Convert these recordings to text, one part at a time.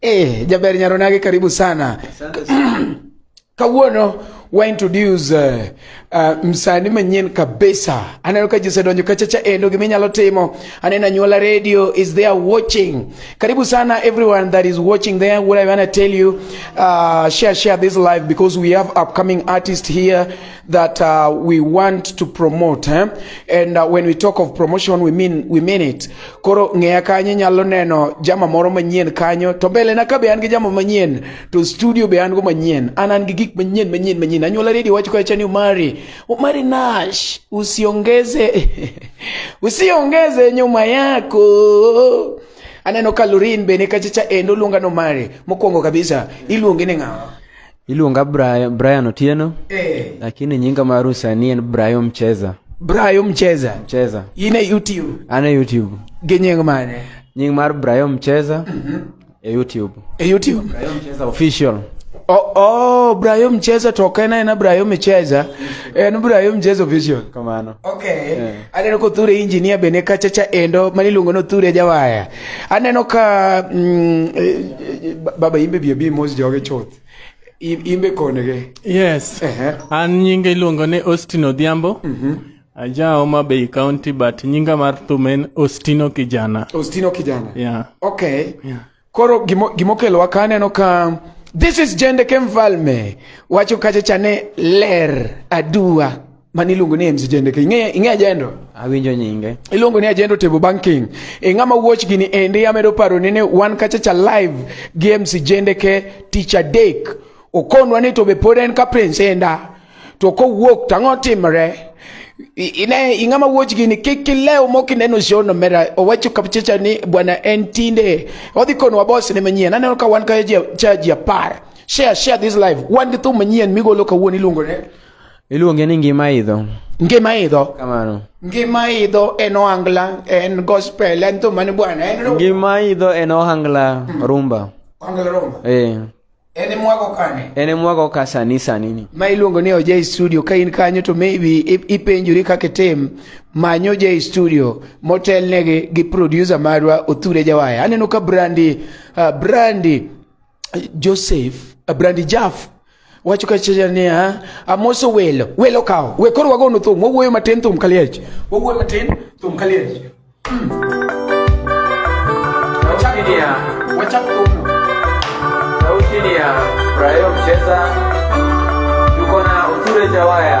Eh, jaber nyaronage karibu sana. Kawuono wa introduce uh, uh, msani manyien kabisa. Aneno ka jise donjo kacha cha endo gimi nyalo timo. Anena nyuola radio is there watching. Karibu sana everyone that is watching there. What I want to tell you, uh, share share this live because we have upcoming artist here. that uh, we want to promote eh? and uh, when we talk of promotion we mean we mean it koro ng'eya kanyo nyalo neno jama moro manyien kanyo to mbele na ka be an gi jama manyien to studio be an go manyien an an gi gik manyien manyien manyien anyuola redio wacho kacha ni umari umari nash usiongeze usiongeze nyuma yako aneno ka lorin bene kachacha endo luonga no mari mokwongo kabisa iluonge ni ng'awa Iluonga Brian, Brian Otieno eh. Lakini nyinga mar usani en Brian Mcheza. Brian Mcheza. Mcheza. In e YouTube. An e YouTube. Gi nying mane? Nying mar Brian Mcheza. Mm -hmm. E YouTube. E YouTube. Brian Mcheza official. Oh, oh, Brian Mcheza to ok en aena Brian Mcheza. En Brian Mcheza official. Kamano. Okay. Yeah. Aneno kothure engineer bende kachacha endo maniluongo nothure jawaya. Aneno ka mm, eh, eh, baba imbe bi abi mos joge chuth. I- Imbe konege. Yes. Ehe. An nyinga iluongo ni Austin Odhiambo. Aja Homa Bay County but nyinga mar thum en Austino Kijana. Ostino kijana. Yeah. Okay. Koro gimo- gimokelowa ka aneno ka this is Jendeke Mfalme wacho kacha chane ler aduwa. mani iluongo ni MC Jendeke. Ing'e ing'e ajendo? Awinjo nyinge. Iluongo ni ajendo table banking. E ng'ama watch gini endi amedo paro ni wan kacha cha live gi MC Jendeke Teacher Dek. Okonwa ni to be pod en ka prince enda. To ko wuok tang'o timre. Ine ing'ama watch gini kik kileo moki neno shono mera owacho kapchecha ni bwana en tinde. Odhi konwa boss ne manyien. Aneno ka wan ka cha ji apar. Share share this live. Wan gi thum manyien migolo kawuono iluongo ne Iluonge ni ngima idho. Ngima idho. Kamano. Ngima idho en ohangla, en gospel, en thum mane bwana, en rumba. Ngima idho en ohangla hmm. rumba. Ohangla rumba. Eh. Ene mwago kane? Ene mwago ka sani sani ni. Ma iluongo ni Oje Studio ka in kanyo to maybe ipenjuri kaka itim manyo Oje Studio motelnegi gi producer marwa Othure Jawaya. Aneno ka Brandi uh, Brandi Joseph Brandi Jaff wacho kachiel niya amoso welo welo kawo we koro wagono thum wawuoyo matin thum kaliech wawuoyo matin thum kaliech hmm. wachaki niya wachak thumno sauti niya brayo mcheza yuko na uture jawaya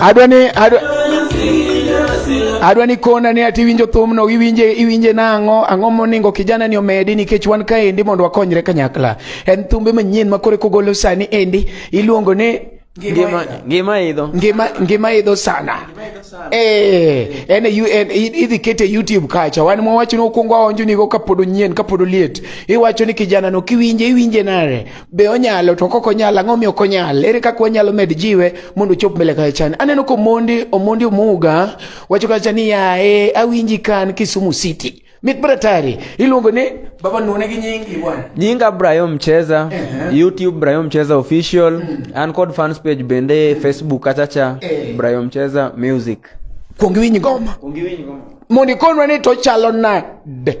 adwa ni adwa adwa ni kona ni ati winjo thum no iwinje iwinje nango ang'o moningo kijana ni omedi nikech wan ka endi mondo wakonyre kanyakla en thumbe manyien ma kore kogolo sani endi iluongo ni ngima ngima idho ngima ngima idho sana eh en en idhi kete youtube kacha wan mwawacho ni okuongo aonjo ni go kapod onyien kapod oliet iwacho ni kijana no kiwinje iwinje nare be onyalo to kok onyalo ang'o miyo ok onyal ere kaka wanyalo med jiwe mondo ochop mbele kacha chani aneno ko mondi omondi omuga wacho kacha ni yae awinji kan Kisumu City mit bratari iluongo ni baba nune gi nyingi bwana nyinga Brian Mcheza uh -huh. YouTube Brian Mcheza official mm -hmm. and code fans page bende Facebook kacha cha hey. Eh. Brian Mcheza music kuongi winyi ngoma kuongi winyi ngoma mondi konwa ni to chalo nade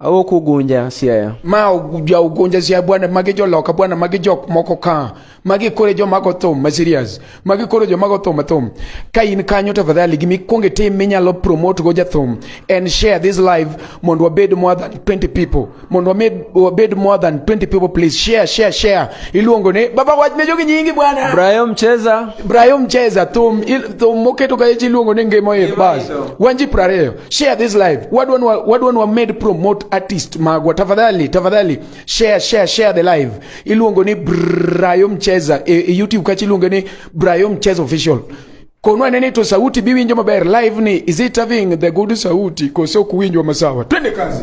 Awo kugunja siaya. Ma ja ugunja siaya bwana magi jo loka bwana magi jok moko ka. Magi kore jo mago thum ma serious. Magi kore jo mago thum thum. Ka in kanyo tafadhali gimi kuonge tim minyalo promote go jathum and share this live mondo wabed more than 20 people. Mondo wabed more than 20 people please share share share. Iluongo ne baba wach ne jogi nyingi bwana. Brayo mcheza. Brayo mcheza thum thum moketo ka iluongo ne ngemo e bas. Wanji prareyo. share this live wadu wanu wadu wanu made promote artist magwa tafadhali tafadhali share share share the live iluongo ni Brayo Mcheza e, e YouTube kachi iluongo ni Brayo Mcheza official konwa nene to sauti biwinjo maber live ni is it having the good sauti kose ok winjwa masawa twende kazi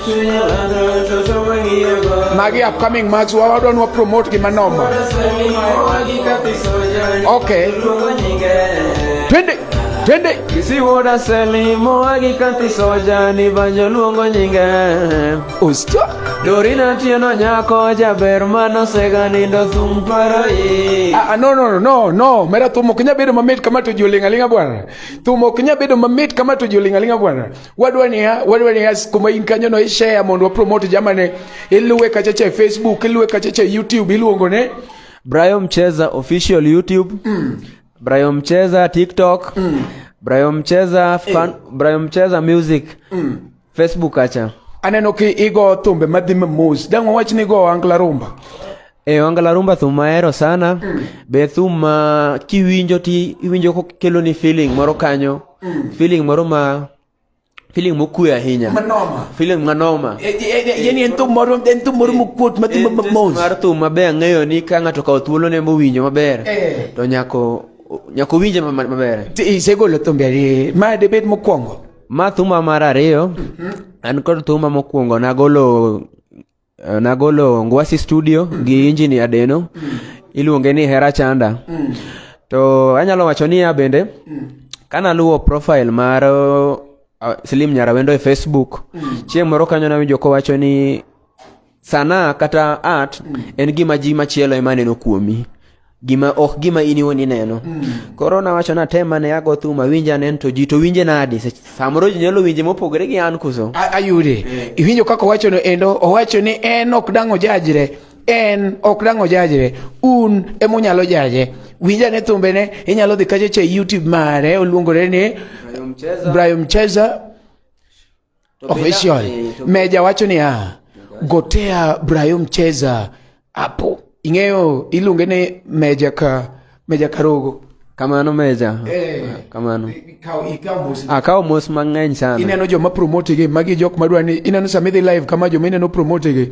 Magi upcoming match wa wadwa nwa promote gi manoma. Okay. Twende. Twende. Kisiwoda selimo agikati soja ni banjo luongo nyinge. Usto. Dorina tieno nyako jaber mano sega nindo thum paro i. Ah, ah no no no no, mera thum ok nya bedo mamit kama to jolinga linga bwana. Thum ok nya bedo mamit kama to jolinga linga bwana. wadwa niya wadwa niya kuma in kanyo no ishare mondo wa promote jamane iluwe kacha cha facebook iluwe kacha cha youtube iluongo ne Brian Mcheza official youtube mm. Brian Mcheza tiktok mm. Brian Mcheza eh. fan, mm. Brian Mcheza music mm. facebook acha aneno ki igo thumbe madhi mamos dang' wawach ni go angla rumba E eh, wanga la rumba thum mahero sana mm. be thum ma kiwinjo ti iwinjo kokeloni feeling moro kanyo mm. feeling moro ma feeling mokue ahinya manoma feeling manoma e, e, e, yani en thum moro en thum moro mokuot ma thum mamos mar thum maber ang'eyo ni ka ng'ato kawo thuolo ne mowinjo maber to nyako nyako winje maber isegolo thumbe ariyo ma debed mokwongo ma thuma mar ariyo mm-hmm. an kod thuma mokwongo nagolo Eh, nagolo Ngwasi Studio gi Injini Adeno iluonge ni Hera Chanda. Mm. To anyalo wacho ni ya bende mm. kana luwo profile mar uh, Slim Nyarawendo e Facebook mm. chieng' moro kanyo nawinjo kowacho ni sana kata art mm. en gima ji machielo ema neno kuomi. gima ok gima in iwuon ineno mm. koro nawacho natema ne ago thum awinja nen to ji to winje nadi samoro ji nyalo winje mopogore gi an kuso ayude eh. iwinjo kaka owacho no endo owacho ni en ok dang' ojajre en ok dang' ojajre un ema unyalo jaje winja ne thumbene inyalo dhi kachacha e youtube mare oluongore ni brayo mcheza Official eh, Meja wacho niya, gotea Brayo Mcheza hapo. Ing'eyo iluonge ni Meja ka Meja Karogo. Kamano Meja. Eh, ah, kamano. Akawo ah, mos mang'eny sana. Ineno joma promote gi magi jok madwa ni ineno sama idhi live kama joma ineno promote gi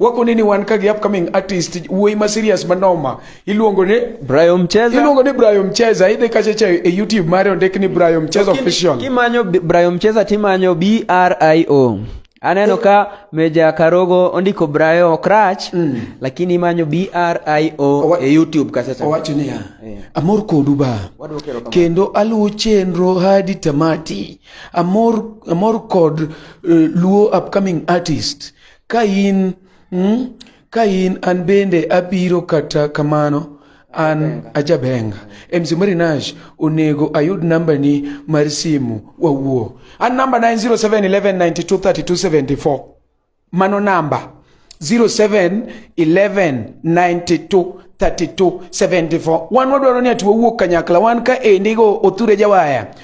wako nini wan ka gi upcoming artist wuoyi ma serious ma noma iluongo ni Brayo Mcheza iluongo ni Brayo Mcheza idhi kacha cha e YouTube mare ondik ni Brayo Mcheza official kimanyo Brayo Mcheza timanyo B R I O aneno eh. ka Meja Karogo ondiko Brayo Okrach mm. lakini imanyo B R I O e YouTube kacha cha owacho ni yeah. amor kodu ba kendo aluwo chenro hadi tamati amor amor kod uh, luo upcoming artist Ka in, mm, ka in an bende abiro kata kamano an ajabenga MC Marinash onego ayud namba ni mar simu wawuo an namba 90711923274 mano namba 0711923274 wan wadwaro ni ati wawuo kanyakla wan ka endigo othure jawaya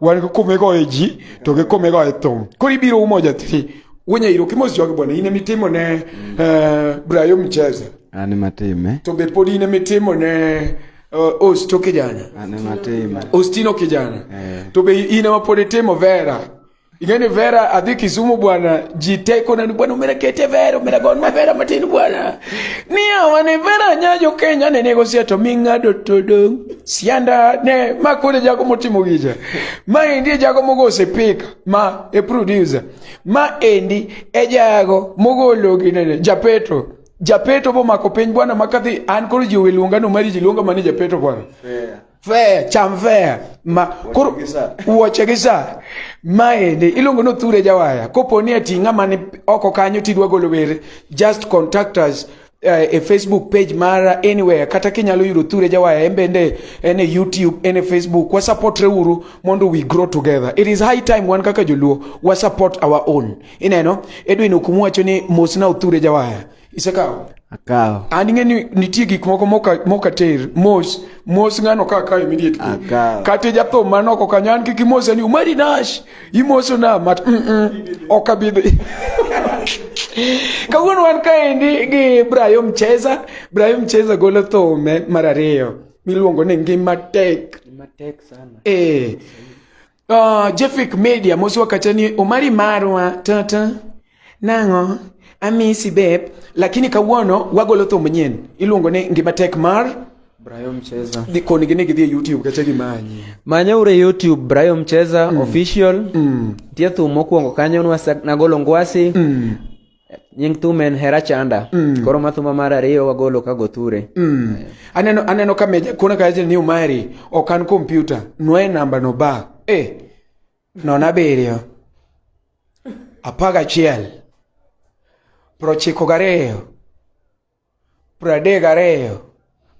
wan kikome goye ji to kikome goye thum koro ibiro umo jathiri wenyairo kimos jogi bwana in emitimo ne eh, brayo mcheza an matime to be pod in emitimo ne eh, osto kijana an matime ostino kijana Eh. to be in ema pod itimo vera Ingeni Vera adhi Kisumu bwana, ji teko nani bwana, umera kete Vera, umera gon ma Vera matin bwana. Niya wane Vera nyajo Kenya ne nego sia to ming'ado to dong. Sianda ne ma kode jago motimo gija. Ma endi jago mogo osepika ma e producer. Ma endi e jago mogolo ginene Japeto. Japeto bomako piny bwana makadhi an koro ji owe luonga no mari ji luonga mane Japeto bwana. Yeah. fea chamfea ma koro wuoche gi sa maende iluongo ni othure jawaya kopo ni ati ng'ama ni oko kanyo tidwa golo were just contact us uh, e facebook page mara anywhere kata kinyalo yudo othure jawaya en bende en e youtube en e facebook wasupportre uru mondo we grow together it is high time wan kaka joluo wasupport our own ineno edwin okumu wacho ni mosna othure jawaya Isekawo? Akawo. An ing'e ni nitie gik moko moka ter mos mos ng'ano ka akawo immediately. Akawo. Kata jathum man oko kanyo an kik imose ni umari nash imoso na mat mm -mm. ok abidhi. Kawuono wan kaendi gi Brayo Mcheza. Brayo Mcheza golo thume mar ariyo miluongo ni ngima tek. Ngima tek sana. Eh. Oh, Jefik Media mosi wakacha ni omari marwa tata nang'o amisi beb lakini kawuono wagolo thum manyien iluongo ni ngima tek mar Brayo Mcheza. Di koni gine gidhi e YouTube kata gimanyi. Manya ure YouTube Brayo Mcheza mm. official. Mm. Tie thum mokwongo kanyo nagolo ngwasi. Mm. nying thum en hera chanda mm. koro mathuma mar ariyo wagolo ka goture mm. yeah. aneno aneno ka meja kuna ka ni umari okan kompyuta nwe namba no ba eh non abiriyo apaga chiel prochiko gariyo pradek ariyo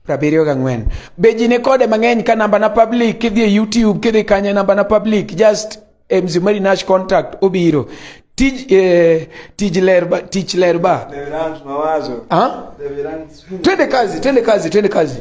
prabiriyo gang'wen be ji nikode mang'eny ka namba na public kidhi e youtube kidhi kanye namba na public just mzumari nash contact obiro tij eh, tij lerba tich lerba twende kazi twende kazi twende kazi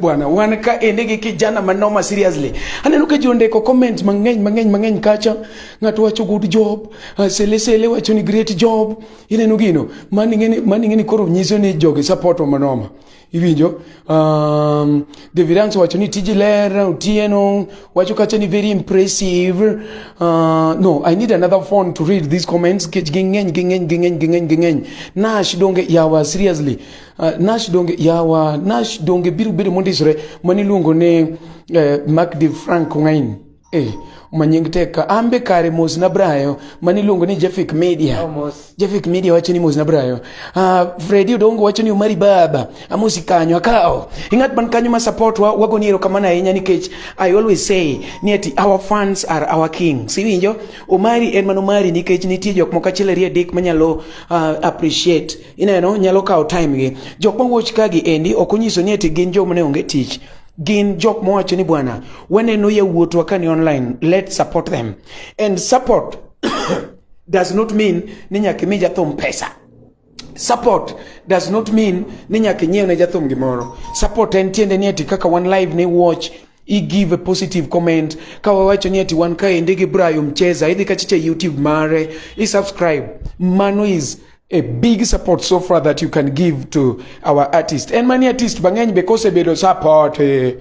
bwana wan ka ende gi kijana manoma seriously aneno ka ji ondiko comment mang'eny mang'eny mang'eny kacha ng'ato wacho good job uh, sele sele wacho ni great job ineno gino mani ng'eni mani ng'eni koro nyiso ni jogi support wa manoma iwinjo um, David Angso wacho ni tiji ler Otieno wacho kacha ni very impressive uh, no I need another phone to read these comments kech ging'eny ging'eny ging'eny ging'eny ging'eny Nash donge yawa seriously Uh, nash donge yawa nash donge biro bedo mondisore mani luongo ne uh, mark de frank ngain eh manying tek ka ambe kare mos na brayo mani luongo ni jefik media oh, jefik media wacho ni mos na brayo uh, fredi odongo wacho ni omari baba amosi kanyo akawo ing'at man kanyo ma support wa wago ni erokamano ahinya nikech i always say ni ati our fans are our king siwinjo omari en man omari nikech nitie jok moko achiel ariyo adek manyalo uh, appreciate ineno nyalo kawo time gi jok ma watch ka gi endi ok onyiso ni eti gin joma ne onge tich gin jok mowacho ni bwana waneno yawuotwa ka ni online let's support them and support does not mean ni nyaka imi jathum pesa support does not mean ni nyaka inyiew ne jathum gimoro support en tiende ni eti kaka one live ni watch i give a positive comment ka wawacho ni ati wan kaendi gi Brayo Mcheza idhi kachicha YouTube mare i subscribe mano is a big support so far that you can give to our artist and many artist bang'eny be kosebedo support eh,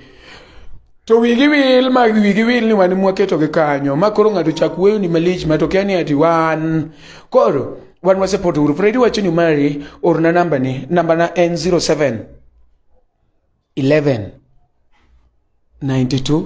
to wigi wil ma wigi wil ni wan mwaketogi kanyo ma koro ng'ato chak weyo ni malich ma to kia ni ati wan koro wan waseport uru fredi wacho ni mari orna namba ni namba na en 07 11 92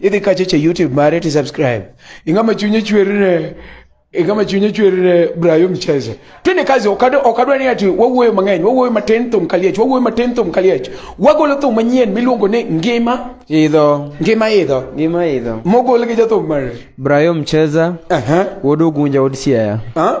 idhi kache che youtube mare ti subscribe ingama chunye chwerine ingama chunye chwerine brayo mcheze tene kazi okado okadwa ni ati wawuoyo mang'eny wawuoyo matin thum kaliech wawuoyo matin thum kaliech wagolo thum manyien miluongo ni ngima idho ngima idho ngima idho mogol gi jathum mare brayo mcheza uh -huh. wodo gunja od siaya uh -huh.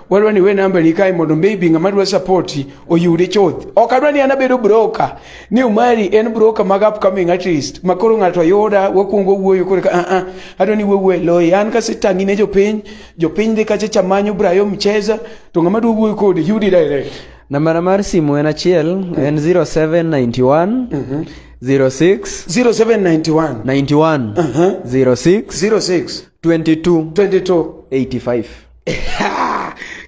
wadwa ni we namba ni kae mondo maybe ng'ama dwa support oyude chuth ok adwa ni an abedo broker ni umari en broker mag upcoming artist ma koro ng'ato ayuda wakwongo wuoyo koro ah ah adwa ni wuoyo loyi an kasetangi ne jopiny jopiny dhi kacha chamanyo brayo mcheza to ng'ama dwa wuoyo kode yudi direct nambana mar simu en achiel en 0791 mm -hmm. 06 0791 91 uh -huh. 06 06 22 22 85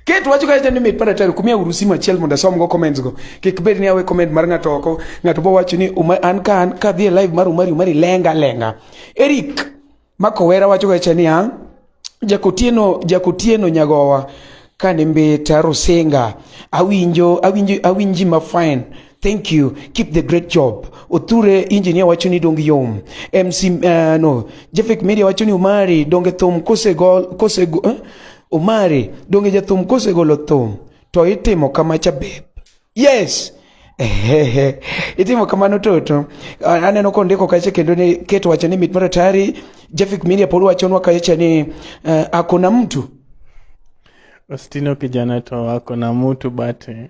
Ket wacho ka jatend mit pada tari kumia uru simu achiel mondo asom go comments go. Kik bed ni awe comment mar ng'ato oko, ng'ato bo wacho ni uma, an ka an ka dhi live mar Umari Umari lenga lenga. Eric Makowera wacho ga cha niya, Jakotieno Jakotieno nyagowa kane mbeta Rusinga awinjo awinjo awinji ma fine Thank you. Keep the great job. Othure engineer wacho ni dong yom. MC uh, eh, no. Jefik Media wacho ni Omari donge thum kose gol kose go, eh? Omari donge jathum kose golo thum to itimo kama cha beb. Yes. Ehehe. Itimo kamano toto. Aneno kondiko kache kendo ni keto wacho ni mit maratari. Jefik Media pod wacho nwa kache ni uh, eh, akona mtu. Ostino kijana to akona mtu bate.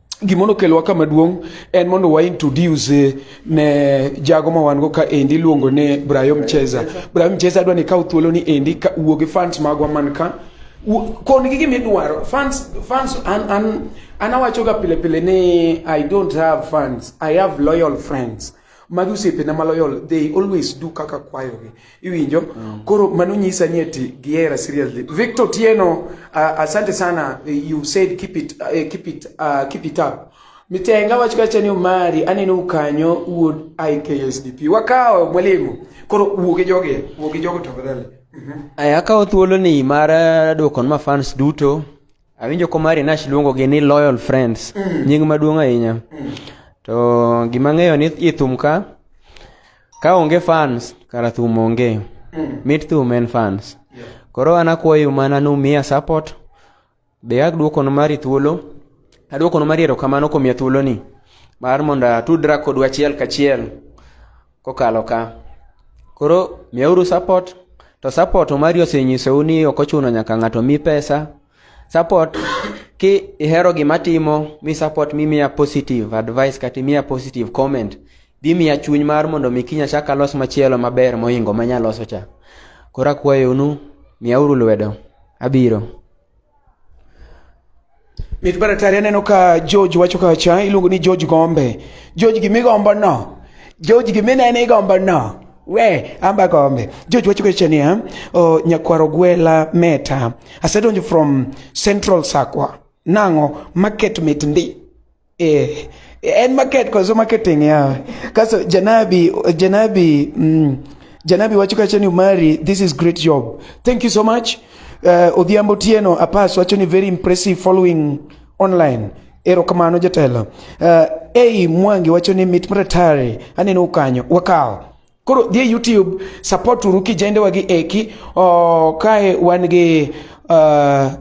gima nokelowa kama duong' en mondo wa introduce eh, ne jago ma wan go ka endi iluongo ni Brayo Mcheza. Brayo Mcheza adwa ni kaw thuolo ni endi ka wuo gi fans magwa man ka kon gi gima idwaro fans fans an an an awacho ga pile pile ni I don't have fans I have loyal friends magi osiepena maloyol they always do kaka kwayogi iwinjo mm. koro mano nyisa ni eti gihera seriously victor tieno uh, asante sana you said keep it, uh, keep it, uh, keep it up mitenga wacho kacha ni omari aneno ukanyo wuod iksdp wakawo mwalimu koro wuogi jogi wuogi jogo tafadhali mm -hmm. akawo thuolo ni mar uh, dwokon ma fans duto Awinjo komari Nash luongo gi ni loyal friends, mm. nying maduong' ahinya. Mm. To gima ng'eyo ni i thum ka, ka onge fans, kara thum onge. Mm. Mit thum en fans. Yeah. Koro an akwayo mana ni umiya support, be aduokono mari thuolo, aduokono mari erokamano kuom ya thuoloni. Mar mondo atudra kodu achiel kachiel. kokalo ka. Koro miyauru support to support mari osenyisou ni ok ochuno nyaka ng'ato mi pesa. Support ki ihero gima timo mi support mi miya positive advice kata miya positive comment dhi miya chuny mar mondo mi kinya chak alos machielo maber mohingo manya loso cha. Koro akwayonu miyauru lwedo. Abiro. Mit baratari aneno ka George wacho ka cha iluongo ni George Gombe. George gimi gombo no. George gimi ne ni gombo no. We, amba gombe. George wacho ka cha ni ha. O nyakwaro gwela meta. Asedonjo from Central Sakwa. Nango market mit ndi. Eh, en market kwa so marketing yawe. Kaso Janabi, Janabi, mm, Janabi wacho kacha ni Umari, this is great job. Thank you so much. Uh, Odhiambo Tieno Apas wacho ni very impressive following online. Erokamano jatelo. Uh, hey, Mwangi wacho ni mit maratari aneno ukanyo. Wakao. Koro dhie YouTube support uru kijende wagi eki oh, kae wan gi uh,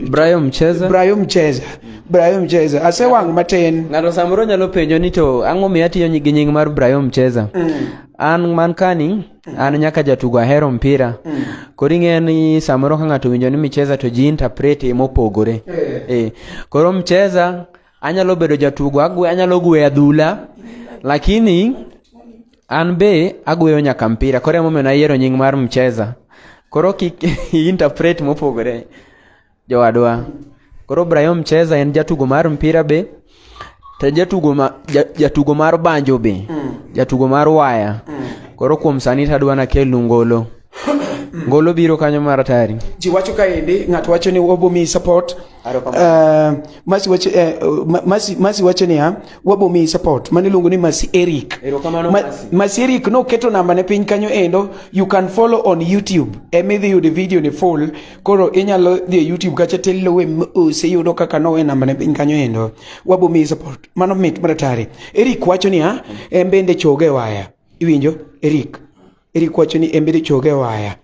Brayo Mcheza Brayo Mcheza Brayo Mcheza ase wang matin ng'ato samoro nyalo penjo ni to ang'o miyo atiyo gi nying mar Brayo Mcheza mm. an man kani mm. an nyaka jatugo ahero mpira mm. koro ing'eyo ni samoro ka ng'ato winjo ni Mcheza to ji interpret mopogore eh. eh. koro Mcheza anyalo bedo jatugo agwe, anyalo gweyo adhula lakini an be agweyo nyaka mpira koro emomiyo nayiero nying mar mcheza koro kik interpret mopogore jowadwa koro Brian mcheza en jatugo mar mpira be to jatugo ma, jatugo mar banjo be mm. jatugo mar waya mm. koro kuom sani tadwa nakelnu ngolo ngolo biro kanyo mar atari ji wacho kaendi ng'ato wacho ni wabomiyi support uh, masi wacho eh, masi masi wacho niya wabomiyi support mane iluongo ni masi eric Ma, masi eric noketo namba ne piny kanyo endo you can follow on youtube emidhi yude video ni full koro inyalo dhi e youtube kacha tiluwe mos iyudo kaka nowe namba ne piny kanyo endo wabomiyi support mano mit mar atari eric wacho niya en bende choge waya iwinjo eric Eric wacho ni embe choge waya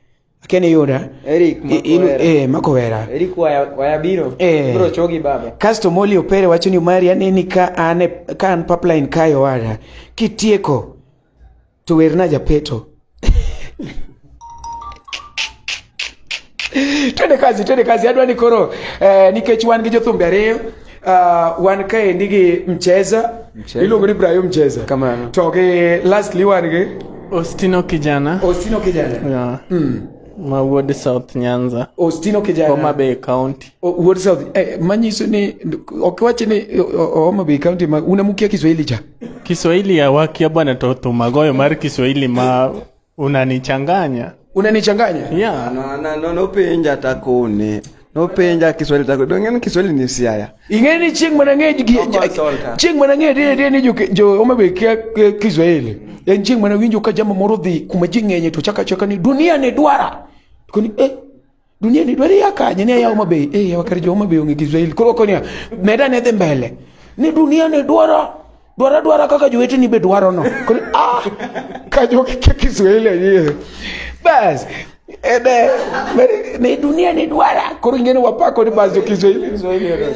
Ken Yuda Eric eh Makowera Eric waya waya biro eh. bro chogi baba Kasto Moli Opere wacho ni Mari aneni ka ane ka an pipeline kayo wada kitieko to werna japeto twende kazi twende kazi adwa ni koro eh, nikech wan gi jothumbe ariyo uh, wan kaendi gi mcheza Mcheza. iluongo ni brayo mcheza Kamano. to gi lastly wan gi Ostino kijana ostino kijana yeah. mm. ma wuod South Nyanza, ostino Homa kijana Bay County. O- wuod south eh, manyiso ni ok wachi ni o- o- homa bay county ma unamukia kiswahili cha Kiswahili ya wakia bwana to thumagoyo mar Kiswahili ma Unanichanganya. Unanichanganya? Yeah. No, no, no, no penja takone. No penja Kiswahili tako. Dongen Kiswahili ni siaya. Ingeni ching mana nge ching mana nge de de ni jo jo omabe kia Kiswahili. En ching mana winjo ka jama moro dhi kuma ji ng'enye to chaka chaka ni dunia ne dwara. Koni eh dunia ni dwari ya kanye ni ya mabe eh ya wakari jo mabe onge Israel koro konya meda ne dhi mbele ni dunia ni dwara dwara dwara kaka jowete ni be dwaro no koro ah ka jo ke Israel ye bas ede ni dunia ni dwara koro ngene wapako ni bas jo Israel Israel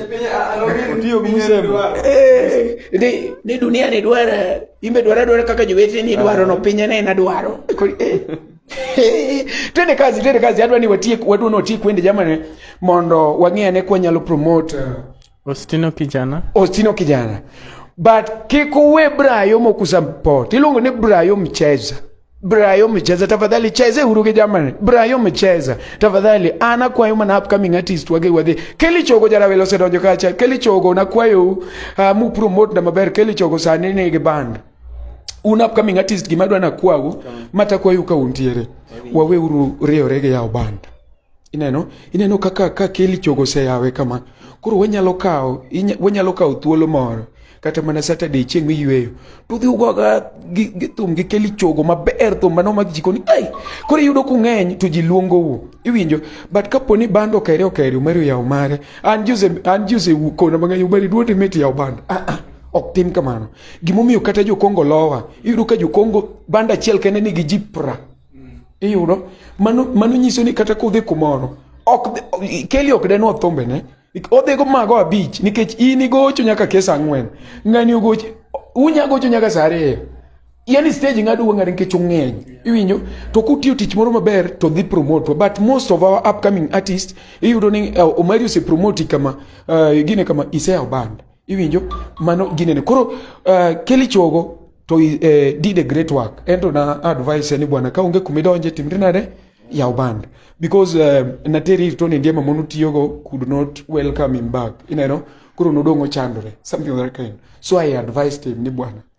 otiyo gi msembo eh ni ni dunia ni dwara imbe dwara dwara kaka jowete ni dwaro no pinyane na dwaro koro eh twende kazi twende kazi adwa ni watie wadwa ni watie kwende jamani mondo wang'e ane kwa nyalo promote uh, Ostino kijana Ostino kijana but kik uwe Brayo mokusupport iluongo ni Brayo mcheza Brayo mcheza tafadhali cheze huru gi jamani Brayo mcheza tafadhali ana kwayo mana upcoming artist wage wadhi Kelly Chogo jara welo sedonjo kacha Kelly Chogo na kwayo uh, mu promote na maber Kelly Chogo sani ni gi band un upcoming artist gima adwa nakwau matakwayu ka untiere waweuru riewre gi yawo banda ineno ineno kaka ka keli chogo oseyawe kama koro wanyalo kawo wanyalo kawo thuolo moro kata mana saturday chieng' miyweyo to udhi ugoga gi thum gi keli chogo maber thum mano mag jikoni ai koro iyudo kung'eny to ji luongou iwinjo but kapo ni bando okere okere umari oyawo mare an jose an jose kona mang'eny umari duote meti yawo bando ah, ah, ok tim kamano Gimomiyo kata jokongo lowa, iyudo ka jokongo banda achiel kende nigi ji pra. Iyudo? Mano, mano nyiso ni kata kodhi kumoro, ok, keli ok denwa thombe ne. Odhigo mago abich nikech in igocho nyaka kes ang'wen. Ng'ani ogocho, unya gocho nyaka saa ariyo. Yani stage ng'ado wang'are nikech ung'eny. Iwinjo? To kutiyo tich moro maber to dhi promote. But most of our upcoming artists, iyudo ni uh, Omari ose promote kama, uh, gine kama, iseyawo band. iwinjo mano ginene koro uh, eh, keli chogo to uh, did a great work ento na advice ni bwana ka onge kumidonje timri nade yaw band because uh, nateri ir toni ndiema mono tiyogo could not welcome him back ineno koro nodong' ochandore something of that kind so i advised him ni bwana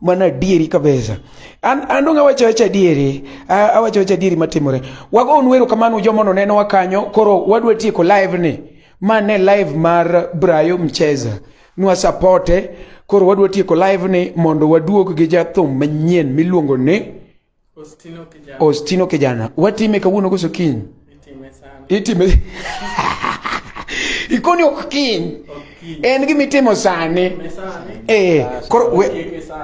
mana adieri kabisa an an donga wacho wacho adieri awacho wacho adieri matimore wago un wero kamano jomo no neno wakanyo koro wadwa tieko live ni mane live mar Brayo Mcheza nwa supporte koro wadwa tieko live ni mondo waduog gi jathum manyien miluongo ni Ostino kijana. Ostino kijana. Watime kawuono koso kiny? Itime sana. Itime. Ikoni ok kiny. En gima itimo sani. Eh, koro we,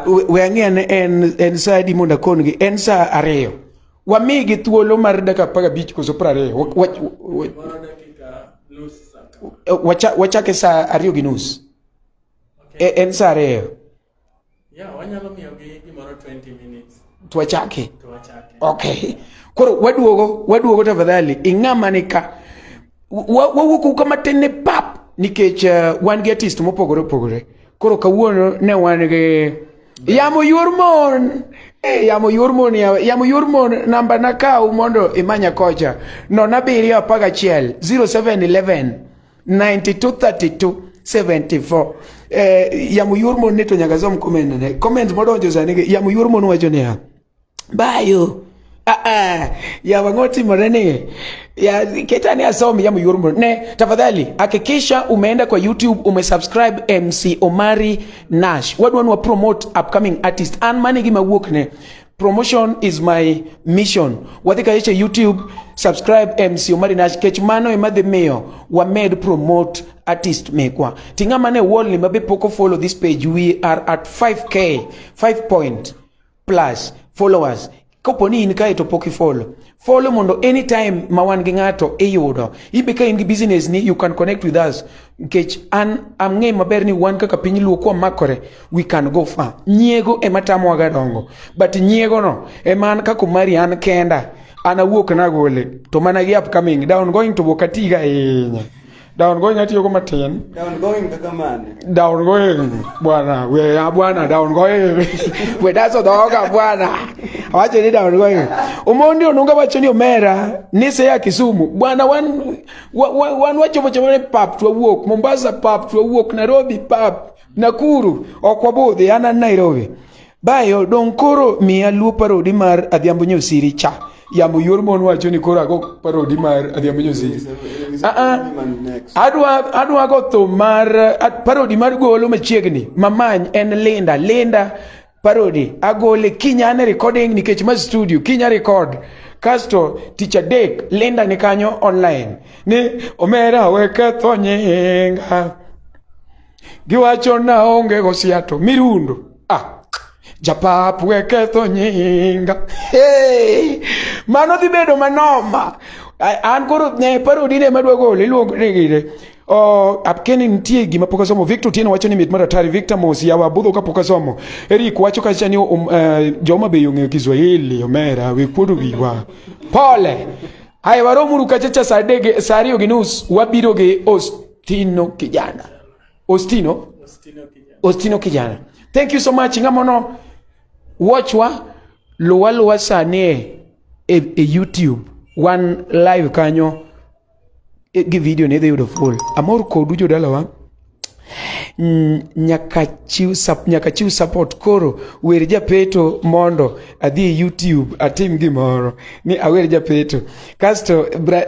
we, we ang'eane en, en saa adi mondo akongi. En saa ariyo. Wamigi thuolo mar dakika apar gabich koso piero ariyo. Wachake saa ariyo gi nus. Okay. E, en saa ariyo. Yeah, wanyalo miyogi gimoro 20 minutes. Tuwachake. Tuwachake. Okay. Koro waduogo, waduogo tafadhali. Ing'ama ni ka. Wawuok uka matin ni pap. Nikech uh, wan gi artist mopogore opogore. Koro kawuono ne wan gi Yamo yor mon. Eh, yamo yor mon ya. Yamo yor mon namba na kaw mondo imanya kocha. No na biriyo apaga chiel. 0711 9232 74 eh, yamo yor mon ni to nyaka som comment ne comment modonjo sani gi yamo yor mon wacho niya bayo ah, ah, yawa ng'o timore ni ya keta ni asom yamo yor mon ne tafadhali hakikisha umeenda kwa youtube umesubscribe mc omari nash wadwa nwa promote upcoming artist an mani gima wuok ne Promotion is my mission. Wadhi ka yeche YouTube, subscribe MC Omari Nash kech mano ema dhi miyo wamed promote artist mekwa. Tinga mane wall ni mabe poko follow this page. We are at 5k, 5 point plus followers. Kopo ni in kae to pok ifollow. follow mondo anytime ma wan gi ng'ato iyudo ibe ka in gi business ni you can connect with us nikech an amng'e maber ni wan kaka piny luo kwa makore we can go far nyiego ema tamowa ga dongo but nyiego no ema an kaka mari an kenda an awuok nagole to mana gi upcoming down going to bokatiga ahinya Down going atiyo go matin. Down going kaka mane? Down going bwana, we ya bwana down going. we daso doga bwana. Awache ni down going. Umondi onunga wacho ni omera ni se ya Kisumu. Bwana wan wan wacho wacho ne pap to walk Mombasa pap to walk Nairobi pap Nakuru okwabudhi ana Nairobi. Bayo dong koro miya luo parodi mar Adhiambo Nyosiri cha. Yamo yor mon wacho ni koro ago parodi mar Adhiambo Nyosiri. Ah ah. Adwa adwa go to mar ad- parodi mar golo machiegni. Mamany en Linda. Linda parodi agole kinyane recording nikech ma studio kinya record kasto tich adek Linda ni kanyo online ni omera weke tho nyinga Giwacho naonge gosiato mirundo ah. Japap we ketho nyinga hey! mano dhi bedo manoma an koro ne parodi ne madwa golo iluongo ni gire Oh, apkeni nitie gima pok asomo. Victor Otieno wacho ni mit mar atari. Victor Mosi yawa budho ka pok asomo. Eric wacho kacha ni um, uh, eh, joma be yong'eyo Kiswahili omera we kuodo wiwa. Pole. Haya waromuru kachacha saa adek saa ariyo gi nus wabiro gi host Tino kijana. Ostino? Ostino kijana. Ostino kijana. Thank you so much. Ngamono watch wa luwa luwa sani e, e, e YouTube wan live kanyo e, gi video ne dhi yudo full. Amor kodu jodalawa. Mm, nyaka chiw nyaka chiw support koro wer japeto mondo adhi e YouTube atim gimoro ni awer japeto kasto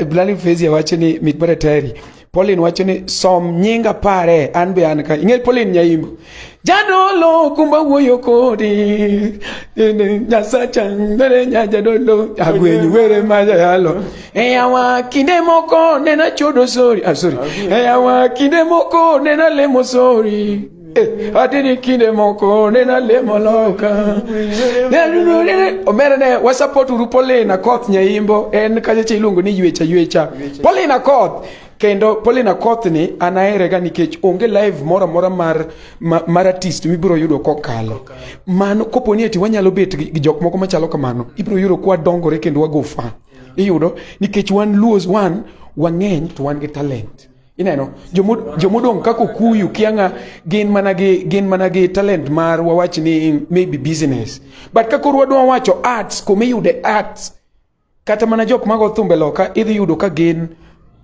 Blani Fezi awacho ni mit mar atari Pauline wacho ni som nyinga pare an be an ka ing'e Pauline Nyaimbo jadolo kumba wuoyo kodi nyasacha ndere nya jadolo agwenyi were ma jayalo eyawa kinde moko nena chodo sori ah, sorry eyawa kinde moko nena lemo sori Eh, adini kinde moko nena lemo loka omera ne wasapot uru polina koth nyaimbo en kachacha iluongo ni ywecha ywecha polina koth kendo polina koth ni anaherega nikech onge live moro amora mar, ma, mar artist mibiro yudo kokalo mano kopo ni eti wanyalo bet gi jok moko machalo kamano ibiro yudo kwa dongore kendo wagofa iyudo nikech wan luos wan wang'eny to wan gi talent ineno jomodong' kaka okuyu kianga gin mana gi gin mana gi talent mar wawach ni maybe business but ka koro wadwa wacho arts kuma iyude arts kata mana jok mago thumbe loka idhi yudo ka gin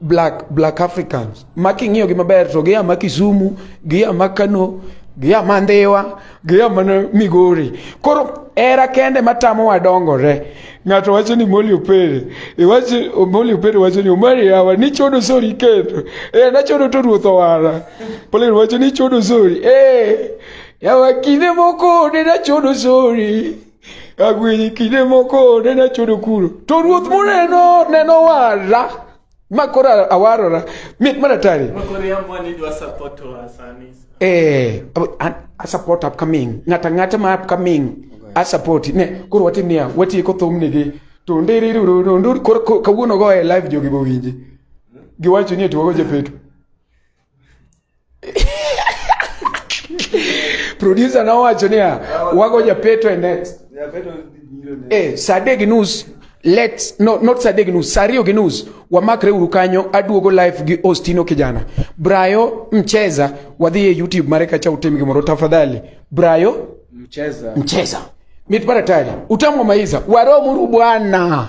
black black africans ma king'iyogi maber to gia ma kisumu gia ma kano gia ma ndhiwa Giya mana Migori. Koro era kende matamo wadongore. Ng'ato wacho ni Molly Opere. Iwacho Molly Opere wacho ni Omari yawa ni chodo sori keto. Eh na chodo to ruoth owara. Pole wacho ni chodo sori. Eh yawa kinde moko ne na chodo sori. Agwenyi kinde moko ne na chodo kuro. To ruoth moneno neno wara. ma koro awarora mit mana tari eh a support upcoming ngata ngata ma upcoming a support ne koro watim niya watieko thum nigi to ndirirurundur koro kawuono go e live jogi bowinji giwacho ni etiwago japeto Producer na wacho niya, wago japeto e next. Japeto biro ne. Eh, Sadek News let's no not Sadek News, Sario gi News wamakre uru kanyo, aduogo live gi Ostino kijana. Brayo mcheza wadhi e YouTube mare kacha utim gimoro tafadhali. Brayo mcheza. Mcheza. Mitparatari. Utamu wa maiza. Waro muru bwana.